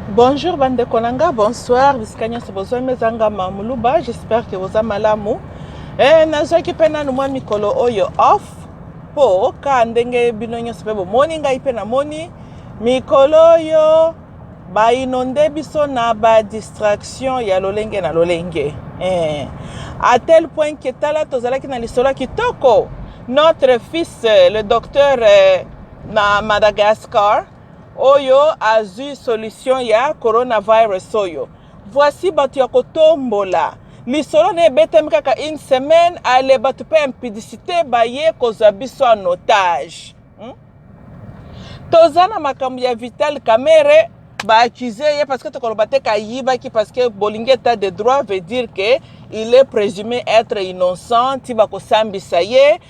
Bonjour bandeko na nga, bonsoir bisika nyonso bozwami eza nga ma muluba, j'espère que boza malamu. Eh, nazwaki mpe nanu mwa mikolo oyo off mpo ka ndenge bino nyonso mpe bomoni ngai mpe namoni mikolo oyo bainonde biso na badistraction ya lolenge na lolenge eh. à tel point que tala tozalaki na lisolo kitoko notre fils le docteur eh, na Madagascar oyo azui solution ya coronavirus oyo voici bato ya kotombola lisolo na ebetami kaka une semaine ale bato mpe impudicité baye kozwa biso en otage hmm? toza na makambo ya vital kamere baaccuse ye parce que tokoloba te kayibaki parce que bolingi état de droit veut dire que il est présumé être innocent ti bakosambisa ye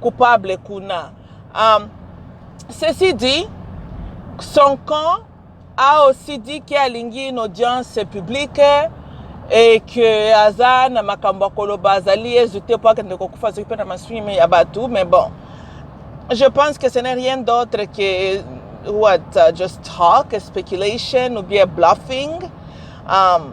coupable kuna um, ceci dit son camp a aussi dit ke alingi une audience publique et que aza na makambo ya koloba azali yezu te mpo akende kokufa soki mpe na maswimi ya bato mais bon je pense que ce n'est rien d'autre que what uh, just talk speculation ou bien bluffing um,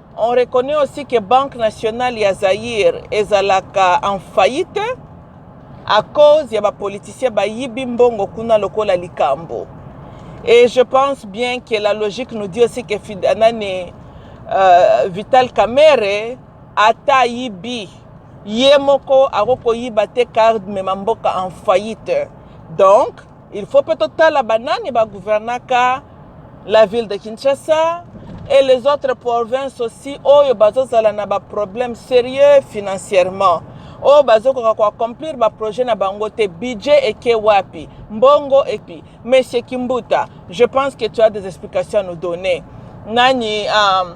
On reconnaît aussi que Banque nationale ya Zaïre ezalaka en faillite à cause ya ba politiciens bayibi mbongo kuna lokola likambo. Et je pense bien que la logique nous dit aussi que Fidanani euh, Vital Kamere ata yibi ye moko akokoyiba te card mema mboka en faillite. Donc Il faut pe totala banani ba gouvernaka la ville de Kinshasa et les autres provinces aussi oyo bazozala na baproblème sérieux financièrement oyo bazokoka koaccomplir baprojet na bango te budget eke wapi mbongo epi monsieur kimbuta je pense que tu as des explications à nous donner nani um,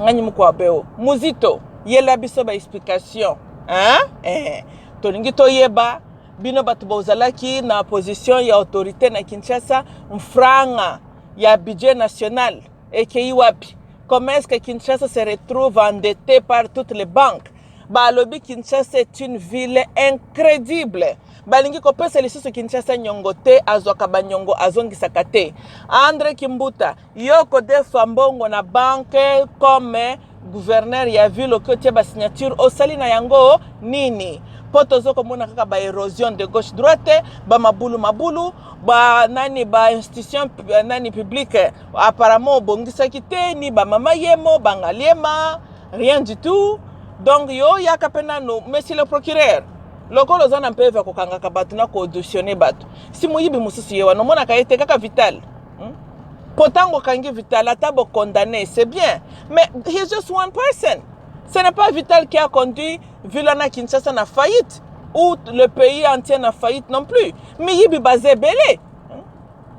nani mokwabeo muzito yela biso baexplication hein? eh, tolingi toyeba Bino bato bozalaki na position ya autorite na Kinshasa, mfranga ya budget national ekei wapi? Comment est-ce que Kinshasa se retrouve endetté par toutes les banques? Balobi Kinshasa est une ville incrédible. Balingi kopesa lisusu Kinshasa nyongo te, azwaka banyongo azongisaka te. Andre Kimbuta, Yo ko defa mbongo na banque comme gouverneur ya ville oki otie ba signature osali na yango nini mpo tozo komona kaka ba erosion de gauche droite ba mabulu mabulu ba nani ba institution eh, nani publique apparemment obongisaki te ni ba mama yemo bangaliema rien du tout donc yo yaka mpe nano monsieur le procureur lokola oza na mpeve ya kokangaka bato na koauditionne bato si moyibi mosusu ye wana omonaka ye te kaka vital hmm? po ntango okangi vital ata bocondamne c'est bien mais he's just one person ce n'est pas vital qui a conduit villa na kinshasa na faillite ou le pays entier na faillite non plus miyibi baza ebele hmm?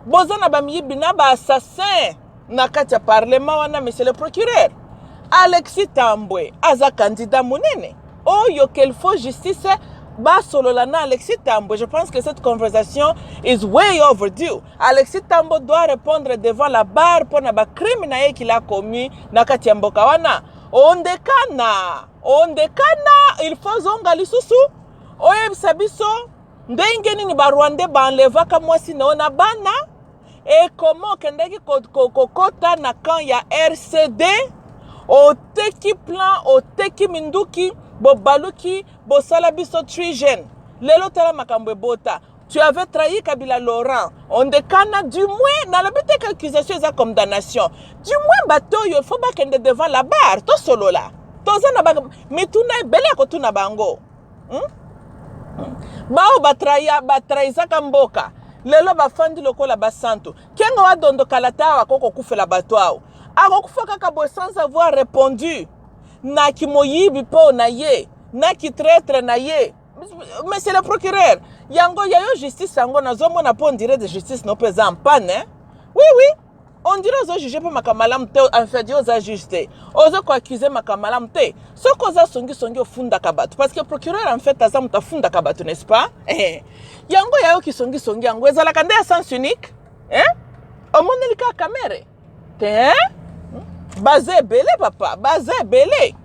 boza na bamiyibi na baassassin na kati ya parlement wana monsieur le procureur alexis tambwe aza kandida monene oyo qu'il faut justice basolola na alexis tambwe je pense que cette conversation is way overdue Alexis Tambo doit repondre devant la barre mpo na ba crime na ye qu'il a commis na kati ya mboka wana. Ondekana, ondekana, il faut zonga lisusu oyebisa biso ndenge nini ba Rwandais ba enlevaka mwasi na yo na bana et comment okendaki kokota na camp ya RCD oteki plan oteki minduki bobaluki bosala biso trigene lelo tala makambo ebota Tu avais trahi Kabila Laurent. On dekana du moins na lobi te accusation eza comme damnation. Du moins bato yo faut bakende devant la barre to solola. Toza na ba mituna ebele ya kotuna bango. Hmm? Bao batraya batraizaka mboka. Lelo bafandi lokola basantu. Kengo wa dondo kalata awa koko kufela bato awo. Akokufa kaka boye sans avoir répondu. Na kimoyibi po na ye, na ki traitre na ye. monsieur le procureur yango ya yo justice yango nazomona mpo ondire de justice no mpe eza mpane eh? oui oui ondire ozojuge mpe makambo malamu te enfedi oza juge te oza koaccuse makambo malamu te soki oza songisongi ofundaka bato parce que procureur en fait aza moto afundaka bato n'est ce pas eh. yango ya yo kisongisongi yango ezalaka nde ya sens unique eh? omoneli kaka kamere te baza ebele papa baza ebele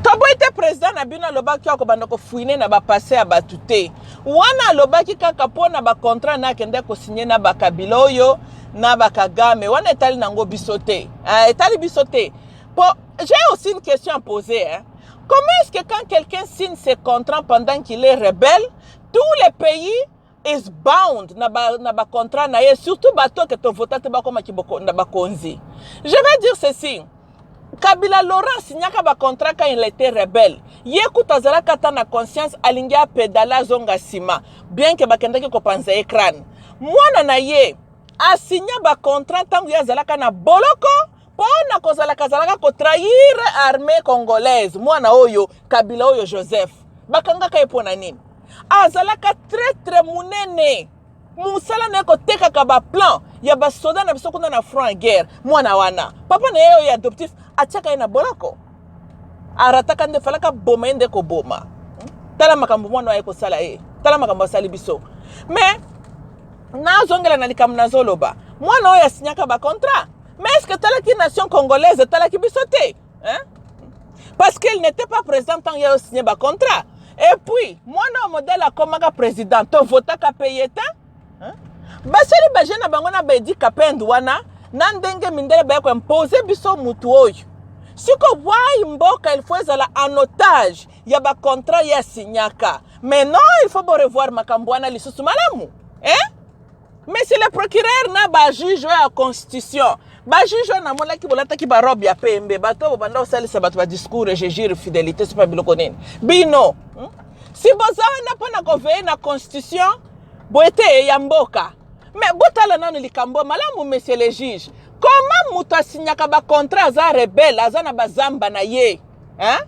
toboyi te président na bino alobaki yo akobanda kofuine na bapasse ya bato te wana alobaki kaka mpo na bacontrat na akendaki kosigne na bakabila oyo na bakagame wana etali nango biso te ah, etali biso te po j'ai aussi une question à poser hein. comment est-ce que quand quelqu'un signe ses contrats pendant qu'il est rebelle tous les pays is bound na ba, na ba contrat na ye surtout bato ke tovota te bakoma kiboko na bakonzi je vais dire ceci kabila laurent signaka bacontrat quand il était rebelle ye kutu azalaka ata na conscience alingi apedale azonga nsima bien ke bakendaki kopanza ye crane mwana na ye asigna bacontrat ntango ye azalaka na boloko pona kozalaka zalaka ko trahir armee congolaise mwana oyo kabila oyo joseph bakangaka ye pona nini azalaka très très munene mosala na ye kotekaka baplan ya basoda na biso kuna na front ya guerre mwana wana papa na ye oyo adoptif atiaka ye na boloko arataka nde falaka boma ye nde koboma tala makambo mwana aye kosala ye tala makambo asali biso mais nazongela na likambo nazoloba mwana oyo asinyaka bacontrat Mais est-ce que talaki nation congolaise talaki biso te hein? Parce qu'il n'était pas présent tant qu'il a signé ba contrat. Et puis, moi non modèle a comme président, to vota ka payer ta. Hein? Basali ba jeune bango na ba dit kapend wana na ndenge mindele ba ko imposer biso mutu oyo. Siko wai mboka il faut ezala en otage ya ba contrat ya signaka. Mais non, il faut revoir makambo wana lisusu malamu. Hein? Monsieur le procureur na ba juge ya constitution ba juge wana namonaki bolataki ba robe ya pembe bato oyo bobanda kosalisa bato ba discours je jure fidelité sopa biloko nini bino hmm? si boza wana mpo na koveye na constitution boye te ya mboka me botala nano likambo malamu monsieur le juge koma moto asinyaka bacontrat aza rebele aza na bazamba na ye hein?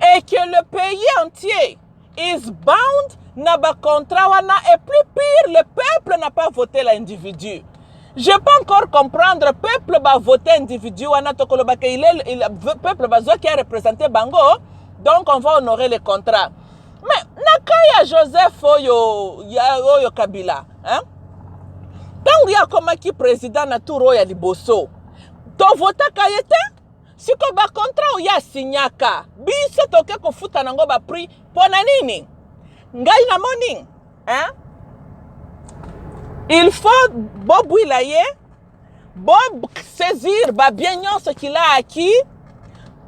et que le pays entier is bound na ba contrat wana et plus pire le peuple n'a pas voté l'individu je peux encore comprendre peuple ba voté individu wana tokoloba ke il est il, peuple bazwaki a représenter bango donc on va honorer le contrat mais na cas ya joseph oyo ya oyo kabila hein? ntango ye akomaki président na tour oyo ya liboso tovotaka ye te siko ba contrat oyo asignaka biso toke kofuta nango ba prix pona nini ngai namoni hein? il faut bobwila ye bosaisir babien nyonso kilaaki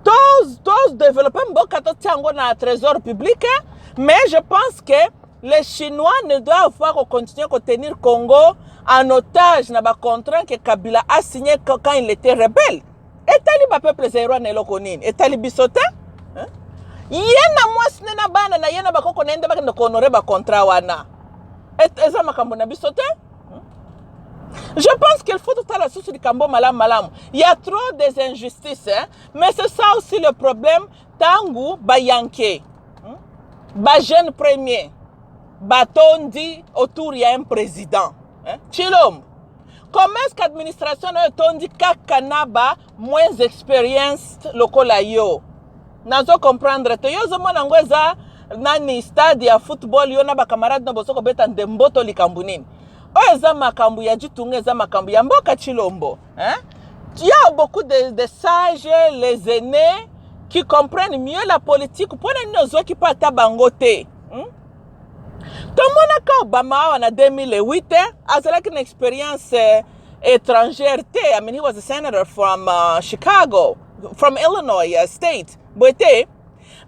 todeveloppe to mboka totia yango na trésor public mais je pense que les chinois ne doivent pas continuer à tenir congo en otage na bacontraint que kabila a signé quand il était rebelle etali ba peuple zaïrois na eloko nini etali biso te hein? ye na mwasi ne na bana na ye na bakoko na ye nde bakende kohonore bacontrat wana eza makambo na biso te Je pense qu'il faut tout à la source du Kambo Malam Malam. Il y a trop des injustices. Hein? Mais c'est ça aussi le problème. Tangu Bayanke, hein? ba jeune premier, batondi autour il y a un président. Hein? Chilom. Comment est-ce qu'administration nayo etondi kaka na ba moins experienced lokola yo? Nazo comprendre te. Yo ozomona yango eza nani stade ya football yo na bakamarade na bozo kobeta ndembo to likambo nini? Oyo eza makambo ya jitunga, eza makambo ya mboka Chilombo. Hein? Il y a beaucoup de, de sages, les aînés, qui comprennent mieux la politique. Pona nini ozwaki pa ata bango te? tomonaka obama awa na 2008 eh, azalaki na experience eh, étrangère te i mean he was a senator from uh, chicago from illinois uh, state boye te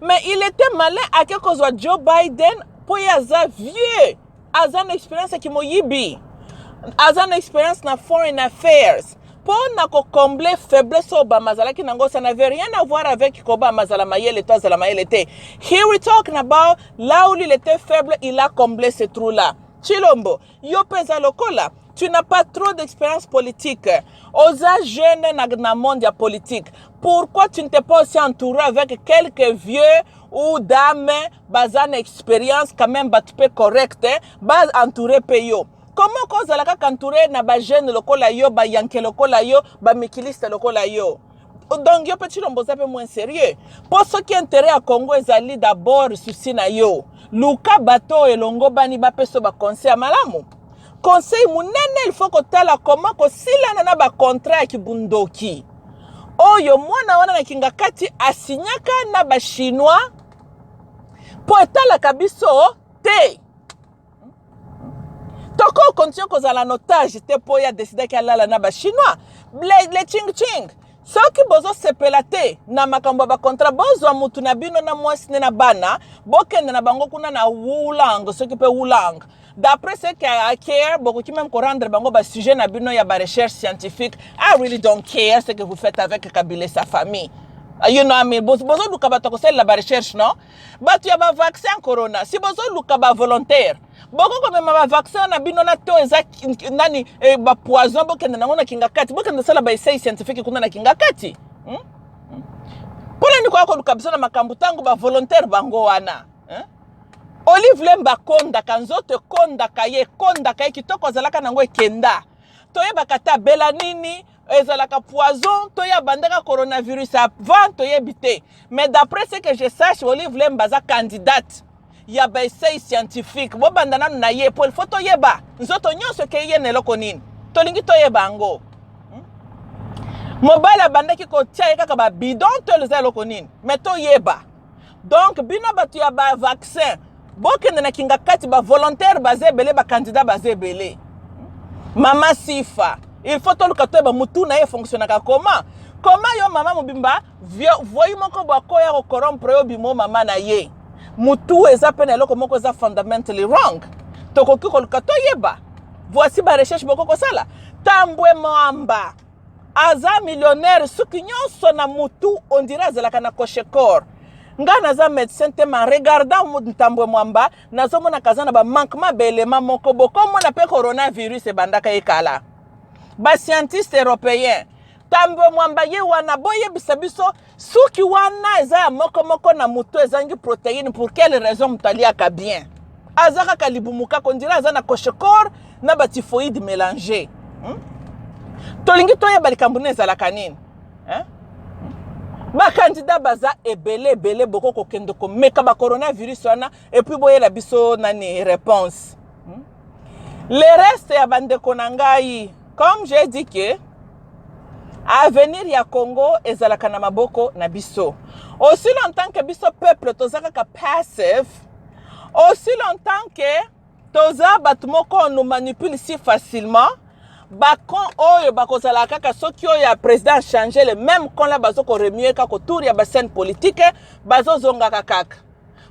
mais il était malin ake kozwa joe biden mpo ye aza vieux aza na experience ya kimoyibi aza na experience na foreign affairs Pour na ko combler faiblesse oyo Obama azalaki nango, ça n'avait rien à voir avec que Obama azala mayele to azala mayele te. Here we talking about là où il était faible, il a comblé ce trou là. Chilombo, yo peza lokola tu n'as pas trop d'expérience politique. Oza jeune na, na monde ya politique. Pourquoi tu ne t'es pas aussi entouré avec quelques vieux ou dames baza na expérience quand même batu pe correct, ba entouré pe yo. Comment oko zala kaka entouré na ba jeunes lokola yo, ba yanke lokola yo, ba mikiliste lokola yo? Donc yo pe Tshilombo oza pe moins sérieux. Po soki intérêt ya Congo ezali d'abord souci na yo, luka bato oyo elongobani bapesa ba conseil ya malamu. Conseil munene il faut kotala comment kosilana na ba contrat ya kibundoki oyo mwana wana na kingakati asignaka na ba chinois po etalaka biso te. toko continue kozala na otage te mpo ye adesidaki alala na bachinois le chingching soki bozosepela te na makambo ya bakontra bozwa mutu na bino na mwasi ne na bana bokende na bango kuna na wulang soki mpe wulang d'après ce que I care bokoki même korendre bango basujet na bino ya barecherche scientifique I really don't care ce que vous faites avec kabila et sa famille you know, I mean, bozoluka bato ya kosalela barecherche non Batu ya ba vaccin corona si bozo luka ba volontaire boko komema ba vaccin na bino na to eza nani eh, ba poison bokende nango na kingakati bokende sala ba essai scientifique kuna na kingakati hmm? hmm. mpona nini koya koluka biso na makambo ntango ba volontaire bango wana eh? olive lemba akondaka nzoto ekondaka ye ekondaka ye kitoko azalaka nango ekenda toyebaka ata bela nini ezalaka poison to ye abandaka coronavirus avant toyebi te mais d'après ce que je sache olive lemba aza candidate ya baessai scientifique bobanda nanu na ye po ilfo toyeba nzoto nyonso ekei ye na eloko nini tolingi toyeba yango hmm? mobali abandaki kotya ye kaka babidon to eza eloko nini mais toyeba donc bino bato ya ba vaccin bokende na kingakati ba volontaire baza ebele ba candidat baza ebele mama sifa il faut toluka toyeba mutu na ye fonctionnaka koma koma yo mama mobimba voyi moko bwako ya kokorompre yo bimo mama na ye mutu eza mpe na eloko moko eza fundamentally wrong tokoki koluka toyeba voici barecherche boko kosala tambwe mwamba aza millionnaire suki nyonso na mutu ondire azalaka na cochecor ngai naza médecin te ma regardant ntambwe mwamba nazomonaka aza na bamankement baelema moko bokomona mpe coronavirus ebandaka ye kala bascientiste européen tambwe mwamba ye wana boyebisa biso suki wana eza ya moko moko na moto ezangi proteine pour quelle raison moto aliaka bien aza kaka libumu kaka ondira aza na cochecor na batifoide mélange hmm? tolingi toyeba likambo nini ezalaka nini eh? bakandida baza ebele ebele boko kokende komeka bacoronavirus wana et puis boyela biso nani réponse hmm? le reste ya bandeko na ngai comme j'ai dit que avenir ya congo ezalaka na maboko na biso aussi longtemps que biso peuple toza kaka passive aussi longtemps que toza bato moko on nous manipule si facilement bacon oyo bakozala kaka soki oyo ya président change le même con la bazo koremue kaka autour ya bascène politique bazozongaka kaka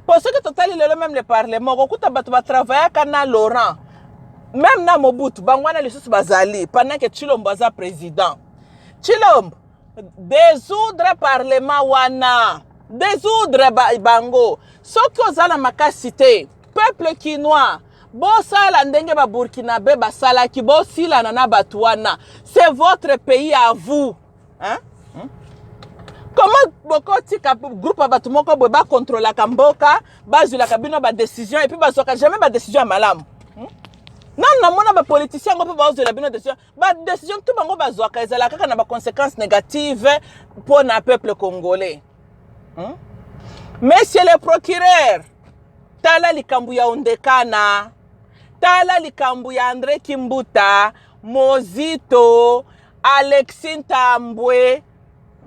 po soki totali lelo meme le parlement okokuta bato batravayaka na laurent meme na mobutu bango wana lisusu bazali pendant ke tshilombo aza président tshilombo desoudre parlement wana desoudre ba, bango soki oza na makasi te peuple kinois bosala ndenge baburkinabe basalaki bosilana na bato wana c'est votre pays à vous hein? Hmm? comment bokotika groupe ya bato moko boye bakontrolaka mboka bazwilaka bino badécision epuis bazwaka jamais badécision ya malamu hmm? nanu namona bapoliticien yango mpe bazwela bino décision badécision tu bango bazwaka ezalaka kaka na baconséquence négative mpo na peuple congolais hmm? monsieur le procureur tala likambo ya ondekana tala likambo ya andre kimbuta Mozito, Alexis Ntambwe,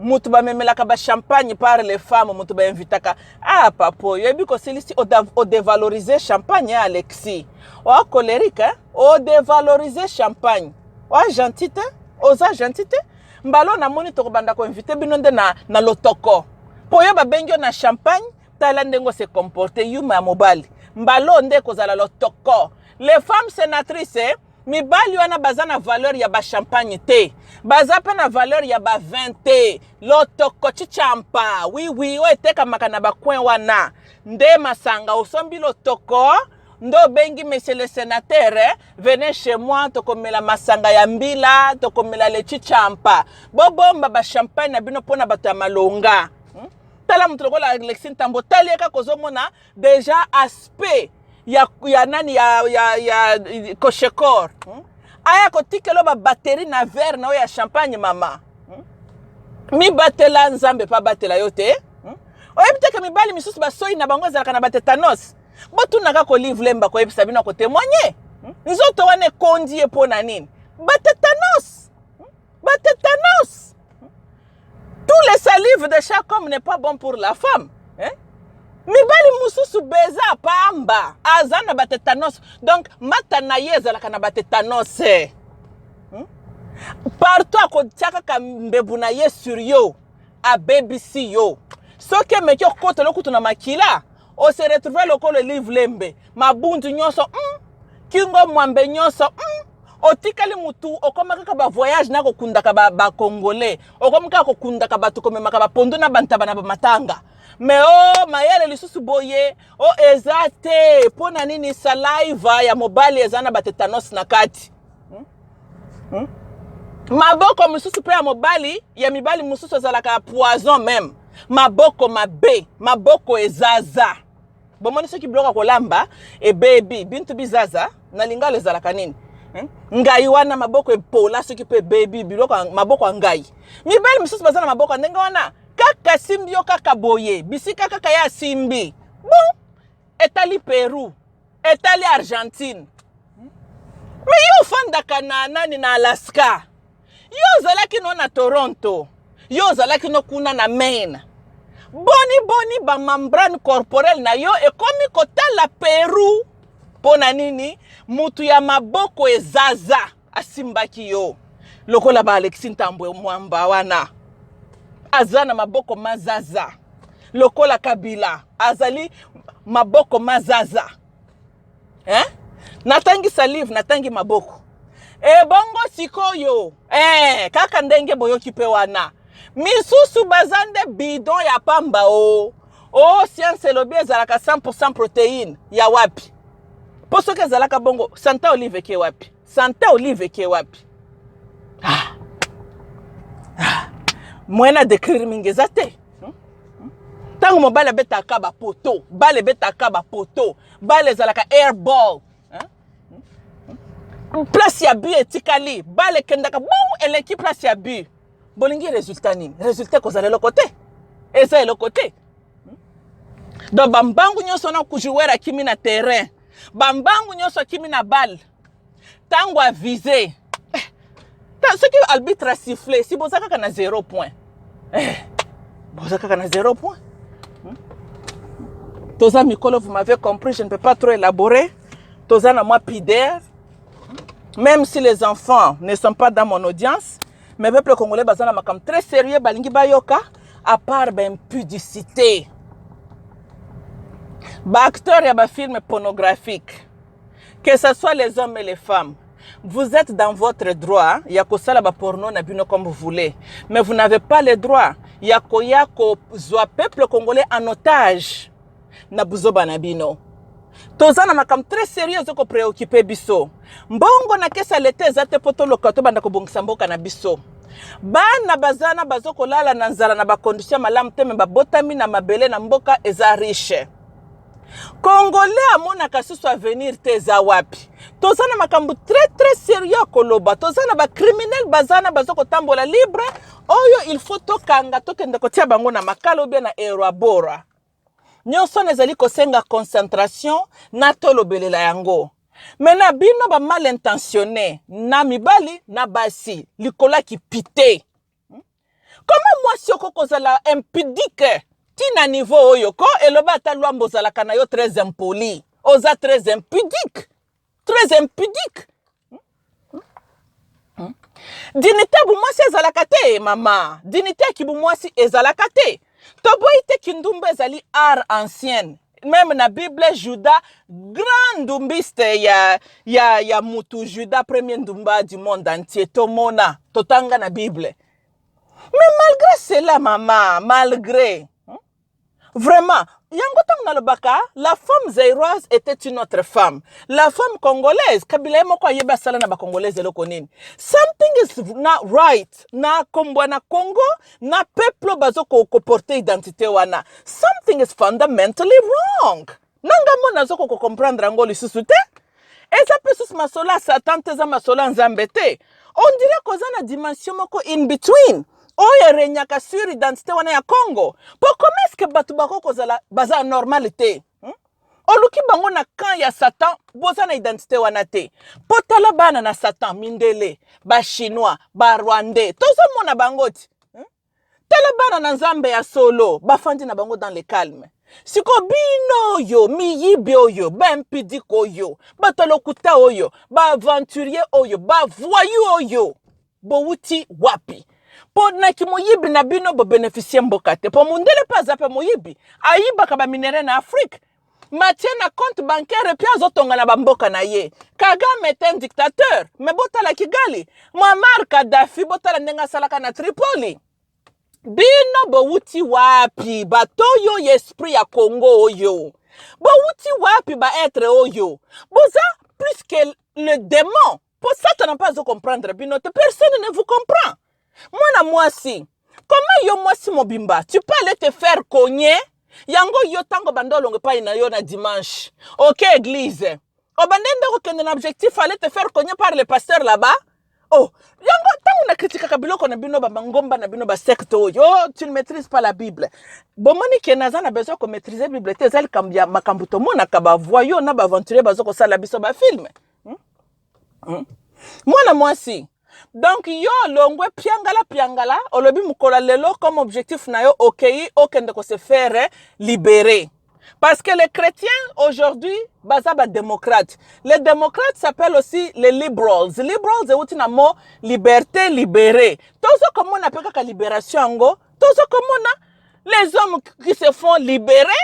moto bamemelaka ba champagne par les femmes, moto ba invitaka. Ah papa, oyebi kosilisi o devaloriser champagne ya Alexis. Oa colerique, hein? o devaloriser champagne. Oa gentil te, oza gentil te. Mbalo namoni tokobanda ko inviter bino nde na na lotoko. Po yo babengi yo na champagne, tala ndenge o se comporter yuma ya mobali. Mbalo nde kozala lotoko. Les femmes sénatrices, eh? mibali wana baza na valeur ya ba champagne te baza mpe na valeur ya ba vin te lotoko chichampa wiwi oyo etekamaka na bacoin wana nde masanga osombi lotoko nde obengi monsieur le sénateur eh, venez chez moi tokomela masanga ya mbila tokomela le chichampa bobomba ba champagne na bino mpo na bato ya malonga hmm? tala moto lokola alexi ntambo otali ye kaka ozomona deja aspect ya, ya nani ya, ya, ya koshekor hmm? aya kotikelo babateri na verre na oyo ya champagne mama hmm? mibatela nzambe mpe abatela yo te hmm? oyebi teke mibali misusu basoi na bango ezalaka na batetanos botunaka kolive lemba koyebisa bino akotemoigne hmm? nzoto wana ekondi ye mpo na nini batetanos hmm? batetanos hmm? tout les salives de chaque homme n'est pas bon pour la femme hein? mibali mosusu beza pamba aza na batetanos donc mata na ye ezalaka na batetanos eh. hmm? partout akotia kaka mbebu na ye sur yo abebisi yo soki emeki okotelo kutu na makila o se retrouver lokola elive lembe mabundu nyonso mm. kingo mwambe nyonso mm. otikali mutu okoma kaka bavoyage na kokundaka bacongolais ba okomi kaka kokundaka bato komemaka bapondo na bantaba na bamatanga me o oh, mayele lisusu boye o oh, eza te mpo na nini saliva ya mobali eza na batetanos na kati hmm? maboko mosusu mpe ya mobali ya mibali mosusu ezalaka poison meme maboko mabe maboko ezaza bomoni soki biloko ya kolamba ebebi bintu bizaza na lingalo ezalaka nini hmm? ngai wana maboko epola soki mpe ebebi biloko maboko ya ngai mibali mosusu baza na maboko ya ndenge wana kaka asimbi yo kaka boye bisika kaka ye asimbi bon etali peru etali argentine me yo ofandaka na nani na alaska yo ozalaki no na toronto yo ozalaki no kuna na maine boni boni bamembrane corporel na yo ekomi kotala peru mpo na nini motu ya maboko ezaza asimbaki yo lokola ba Alexis Ntambwe mwamba wana aza na maboko mazaza lokola Kabila azali maboko mazaza eh? natangisa livre natangi maboko ebongo eh, sikoyo eh, kaka ndenge boyoki mpe wana misusu baza nde bidon ya pamba o oh. Oh, science elobi ezalaka 100% proteine ya wapi? Po soki ezalaka bongo, Santa Olive eke wapi? Santa Olive eke wapi? Ah. Ah. Moyen na décrire mingi eza te. Tango mobali abetaka ba poteau, bale ebetaka ba poteau, bale ezalaka airball. Place ya but etikali, bale ekendaka boum eleki place ya but. bolingi resultat nini resultat ekozala eloko te eza eloko te hmm? donc bambangu nyonso wana joueur akimi na terrain bambangu nyonso akimi na balle ntango avise eh, soki arbitre asiffle si boza kaka na zero point eh, boza kaka na zero point hmm? toza mikolo vous m'avez compris je ne peux pas trop élaborer toza na mwa pider Même si les enfants ne sont pas dans mon audience, mais peuple congolais baza na makambo très sérieux balingi bayoka à part baimpudicité baacteur ya bafilme pornographique que ce soit les hommes et les femmes vous êtes dans votre droit ya kosala baporno na bino comme vous voulez mais vous n'avez pas le droit ya koya kozwa peuple congolais en otage na buzoba na bino toza na makambo très serieux ezo ko preoccupe biso mbongo na kesa leta eza te mpo toloka tobanda kobongisa mboka na biso bana bazana bazo kolala na nzala na bacondition malamu te me babotami na mabele na mboka eza riche congolais amonaka susu avenir te eza wapi toza na makambo très très serieux ya koloba toza na bacriminel bazana baza kotambola libre oyo il faut tokanga tokende kotia bango na makala obia na erabora nyonso wana ezali kosenga concentration na tolobelela yango me na bino ba mal intentionne na mibali na basi likolo ya kipite koma mwasi oko kozala impidike ti na niveau oyo ko eloba ata lwambo ozalaka na yo très impoli oza très impudique très impudique dinite bumwasi ezalaka te mama dinite ya kibumwasi ezalaka te toboyi te kindumba ezali art ancienne meme na bible juda grand ndumbiste ya, ya, ya mutu juda premier ndumba du monde entier tomona totanga na bible mais malgré cela mama malgré Vraiment, yango ntango nalobaka la femme zairoise était une autre femme. La femme congolaise, Kabila ye moko ayebi asala na bacongolaise eloko nini. Something is not right na kombwa na Congo na peuple bazo ko, ko porter identité wana. Something is fundamentally wrong. na ngai mona nazo koko comprendre yango lisusu te eza mpe susu masolo ya satan te eza masolo ya nzambe te on dirait koza na dimension moko in between oyo eregnaka sur identité wana ya congo mpo comment est-ce que bato bako kozala baza normal te hmm? oluki bango na camp ya satan boza na identité wana te mpo tala bana na satan mindele bachinois barwandais tozomona bango ti tala bana na nzambe ya solo bafandi na bango dans le calme siko bino oyo miyibi oyo baimpidike oyo bato ya lokuta oyo baaventurier oyo bavoyu oyo bowuti wapi mpo na kimoyibi na bino bobenefisie mboka te mpo mondele mpe aza mpe moyibi ayibaka baminere na afrike Mathieu na compte bancaire pe azotonga na bamboka na ye. Kagame est un dictateur. Mais botala Kigali. Muammar Kadhafi botala ndenge asalaka na Tripoli. Bino bowuti wapi bato oyo ya esprit ya Congo oyo? Bowuti wapi ba être oyo? Boza plus que le démon. po satana mpe azo comprendre bino te personne ne vous comprend mwana mwasi comment yo mwasi mobimba tu peux aller te faire cogner yango yo ntango banda olongo epai na yo na dimanche oke okay, eglise obande nde kokende na objectif aller te faire cogner par le pasteur là-bas oh yango ntango nakritikaka biloko na bino bamangomba na bino basecte oyo oh, tu ne maîtrise pas la bible bomoni ke naza na besoin komaîtrise bible te eza likambo ya makambo tomonaka bavoyo na baaventurier baza kosala biso bafilme hmm? Hmm? mwana mwasi donc yo olongwe piangala piangala olobi mokolo lelo comme objectif na yo okei okende ko se faire libérer parce que les chrétiens aujourd'hui baza ba démocrates les démocrates s'appellent aussi les liberals liberals euti na mot liberté libéré tozo komona pe kaka libération yango tozo komona les hommes qui se font libérer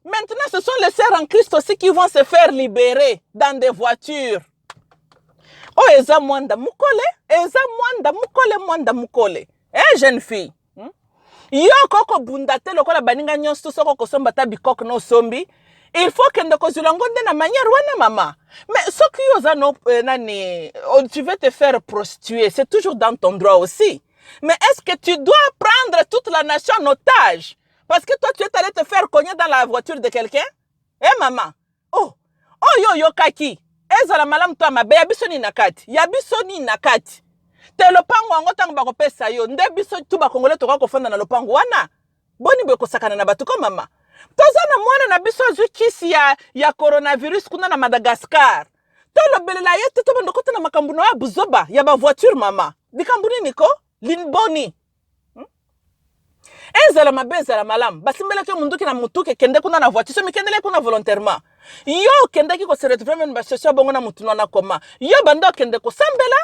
Maintenant, ce sont les sœurs en Christ aussi qui vont se faire libérer dans des voitures. Oh, eza mwanda mukole, eza mwanda mukole, mwanda mukole. Eh, jeune fille. Hmm? Yo koko bunda te lokola baninga nyonso soko kosomba ta bikok no sombi. Il faut que ndeko zulango nde na manière wana mama. Mais ce qui oza no euh, nani, oh, tu veux te faire prostituer, c'est toujours dans ton droit aussi. Mais est-ce que tu dois prendre toute la nation en otage? Parce que toi, tu es allé te faire cogner dans la voiture de quelqu'un Eh maman Oh Oh yo yo kaki ezala malamu to ya mabe ya biso nini na kati ya biso nini na kati te lopango yango ntango bakopesa yo nde biso tu bakongole tokoki kofanda na lopango wana boni boye kosakana na bato ko mama toza na mwana na biso azwi kisi ya, ya coronavirus kuna na madagascar tolobelela ye te tobanda okota na makambo na ya buzoba ya bavoiture mama likambo nini ko linboni hmm? ezala mabe ezala malamu basimbelaki yo monduki na motuke kende kuna na voiture somi kendele kuna volontairement yo okendaki kose retrouve meme basosio bongo na motu na koma yo banda okende kosambela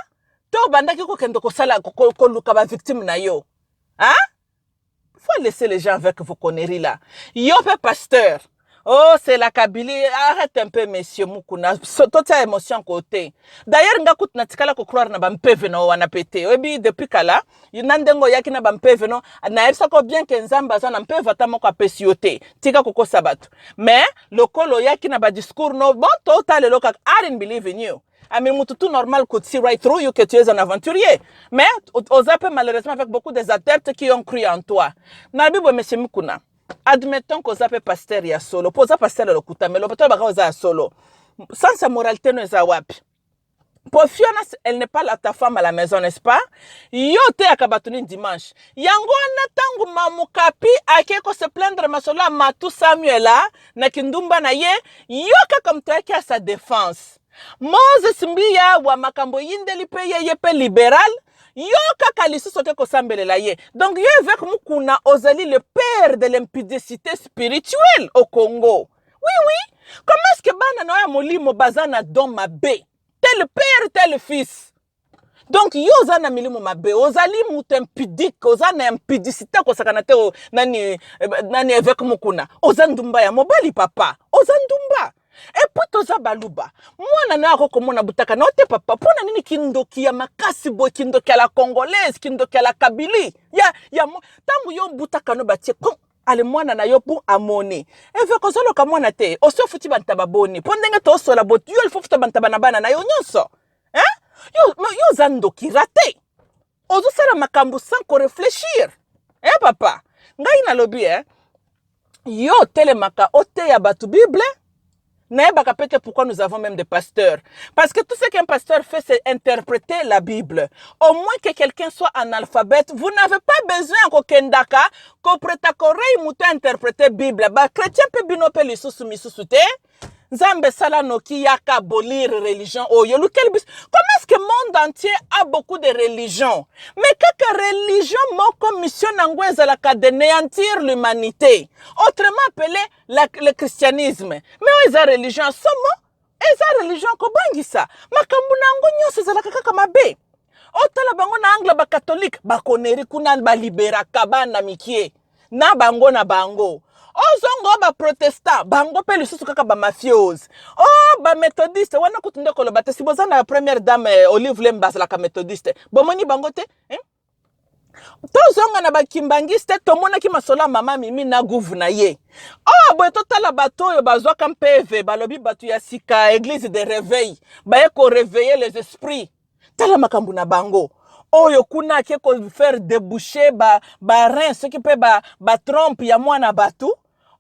to obandaki kokende kosala koluka bavictime na yo hein? faut laisser les gens avec vos conneries là yo mpe pasteur Oh, c'est la Kabylie. Arrête un peu, monsieur Mukuna. So- Totia émotion côté. D'ailleurs, nga kutu natikala ko croire na bampeve no wana pete. Oyebi depuis kala, yo na ndenge oyaki na bampeve no, nayebisa ko bien que Nzambe aza na mpeve ata moko apesi yo te. Tika kokosa bato. Mais lokola oyaki na ba discours no, bon to talelo kaka I didn't believe in you. I mean, mutu tout normal could see right through you que tu es un aventurier. Mais aux appels malheureusement avec beaucoup des adeptes qui ont cru en toi. Nabibo, monsieur Mukuna. admettons que oza mpe pasteur ya solo mpo oza pasteur ya lokuta me lokuta olobaka oza ya solo sens ya moralité no eza wapi mpo fiona elle n'est pas la ta femme à la maison n'est-ce pas yo oteyaka bato nini dimanche yango wana ntango mamokapi akei kose plaindre masolo ya matu samuela na kindumba na ye yo kaka moto ayaki ya sa défense moses mbiya wa makambo eyindeli mpe ye ye mpe libérale yo kaka lisusu oke kosambelela ye donc yo eveke mukuna ozali le père de l'impudicité spirituelle au congo oui oui comment est ce que bana na yo ya molimo baza na don mabe tel père tel fils donc yo oza na milimo mabe ozali moto impudique oza na impudicité akosakana te nani, eh, nani eveke mukuna oza ndumba ya mobali papa oza ndumba epuis toza baluba mwana nayo ako komona butaka na yo te papa mpo na nini kindoki ya makasi boye kindoki ya la congolaise kindoki ya la kabili ya, ya ntango yo butaka no batie pum, ale mwana na yo mpo amoni eve kozoloka mwana te osi ofuti bantaba boni mpo ndenge toosola bo yo lifo futa bantaba na bana na yo nyonso eh? yo, yo oza ndoki rate ozosala makambo sans ko reflechir eh papa ngai nalobi eh yo otelemaka oteya bato bible nayebaka mpe te pourquoi nous avons même des pasteurs parce que tout ce qu'un pasteur fait c'est interpréter la bible au moins que quelqu'un soit analphabète vous n'avez pas besoin ya kokendaka kopreta korei moto interpréter bible bachrétien mpe bino mpe lisusu misusu te Nzambe sala noki yaka bolir religion oyo lukeli biso comment est-ce que monde entier a beaucoup de religion mais kaka religion moko mission nango ezalaka de néantir l'humanité autrement appelé la, le christianisme mais oyo eza religion ya somo eza religion kobangisa makambo na yango nyonso ezalaka kaka mabe otala bango na angle bakatolike bakoneri kuna baliberaka bana mikie na bango na bango ozongo ba protestant bango pe lisusu kaka ba mafiose o oh, ba methodiste wana kutu nde koloba te si boza na première dame eh, olive lemba azalaka methodiste bomoni bango te eh? tozonga na bakimbangiste tomonaki masolo ya mama mimi na guvu na ye oyo oh, boye totala bato oyo bazwaka mpeve balobi bato ya sika eglise de reveil baye koreveille les esprits tala makambo na bango oyo kuna ake ko faire deboucher ba ba rein soki mpe ba, ba trompe ya mwana bato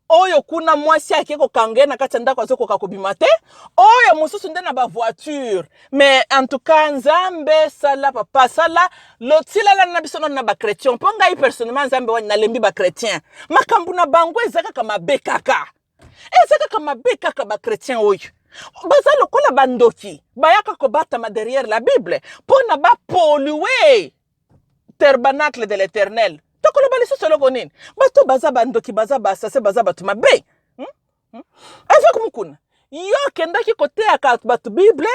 oyo kuna mwasi ake kokanga ye na kati ya ndako azokoka kobima te oyo mosusu nde na bavoiture mais en tout cas nzambe sala papa sala lotilalana na biso nano na bachrétien mpo ngai personnellement nzambe wani nalembi bachrétien makambo na bango eza kaka mabe kaka eza kaka mabe kaka ba chrétien oyo baza lokola bandoki bayaka kobatama derrière la bible mpo na bapolue tabernacle de l'éternel tokoloba lisusu eloko nini bato baza bandoki baza basase baza bato mabe hmm? hmm? avec mukuna yo okendaki koteyaka bato bible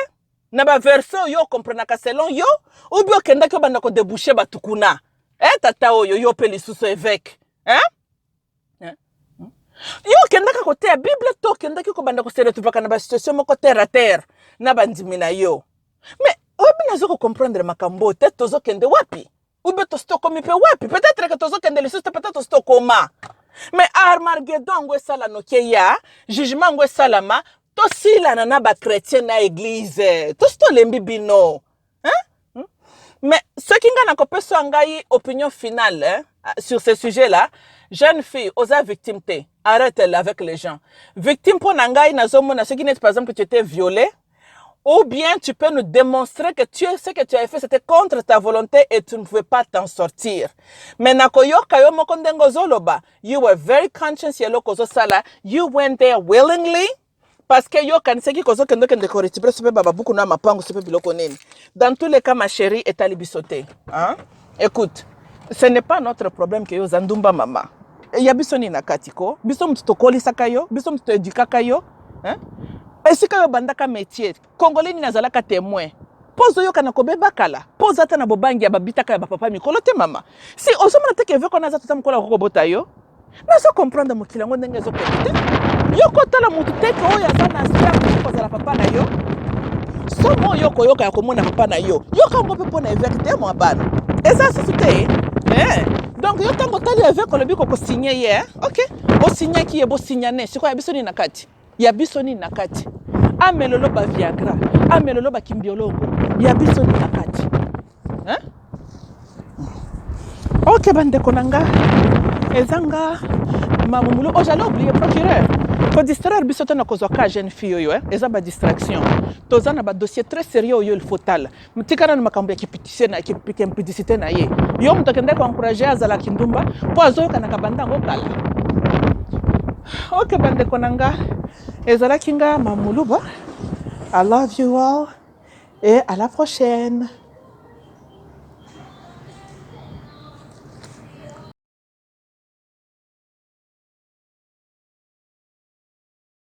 na baverse oyo okomprenaka selon yo obi okendaki obanda kodebouche bato kuna e eh, tata oyo yo mpe lisusu eveke eh? eh? hmm? yo okendaka koteya bible to okendaki kobanda koseretuvaka na basituation moko terre a terre na bandimi na yo me oyebi nazo kocomprendre makambo oyo te tozokende wapi ube tosi tokomi mpe wapi peut-être ke tozokende lisusu te peut-être tosi tokoma me armagedo yango esala noke ya jugement yango esalama tosilana na bachrétien na eglize tosi tolembi bino hein? Hmm? mais soki ngai nakopesa ngai opinion finale hein, sur ce sujet là jeune fille oza victime te arrête elle avec les gens victime mpo na ngai nazomona soki neti par exemple que tu étais violée ou bien tu peux nous démontrer que tu, ce que tu avais fait, c'était contre ta volonté et tu ne pouvais pas t'en sortir. Mais nakoyoka yo moko ndenge ozoloba, you were very conscious ya eloko ozosala, you went there willingly, parce que yo kanisaki kozo kende kende ko retibrer sope ba babuku na mapangu sope biloko nini dans tous les cas ma chérie etali biso te hein écoute ce n'est pas notre problème que yo oza ndumba mama Et ya biso nini na kati ko biso moto tokolisaka yo biso moto toedukaka yo hein esika yo obandaka métier congolais nini azalaka témoin mpo ozoyoka na kobeba kala mpo oza ata na bobangi ya babitaka ya bapapa mikolo te mama si ozomona te keveko na aza tata mokolo akoki kobota yo nazo comprendre mokili yango ndenge ezokende te yo kotala motu te ke oyo aza na star kozala papa na yo somo oyo okoyoka ya komona papa na yo yoka yango mpe mpo na eveke te mwa bana eza susu te eh. donc yo ntango otali eveke olobi kokosigne ye eh? ok osignaki ye bosignane sikoyo ya biso nini na kati ya biso nini na kati amelolo ba viagra amelolo ba kimbiolongo ya biso nini na kati hein? ok bandeko na nga eza nga mamumulu oyo oh, jali oblie procureur kodistraire biso te na kozwa ka jeune fille oyo eh? eza badistraction toza na badossier très sérieux oyo ilfo tala Tika nanu makambo ya kipitise na kimpidisite na ye. Yo moto akendaki koankuraje azala kindumba mpo azoyokanaka banda yango kala. Ok bandeko na nga, ezalaki nga mamuluba. I love you all et à la prochaine.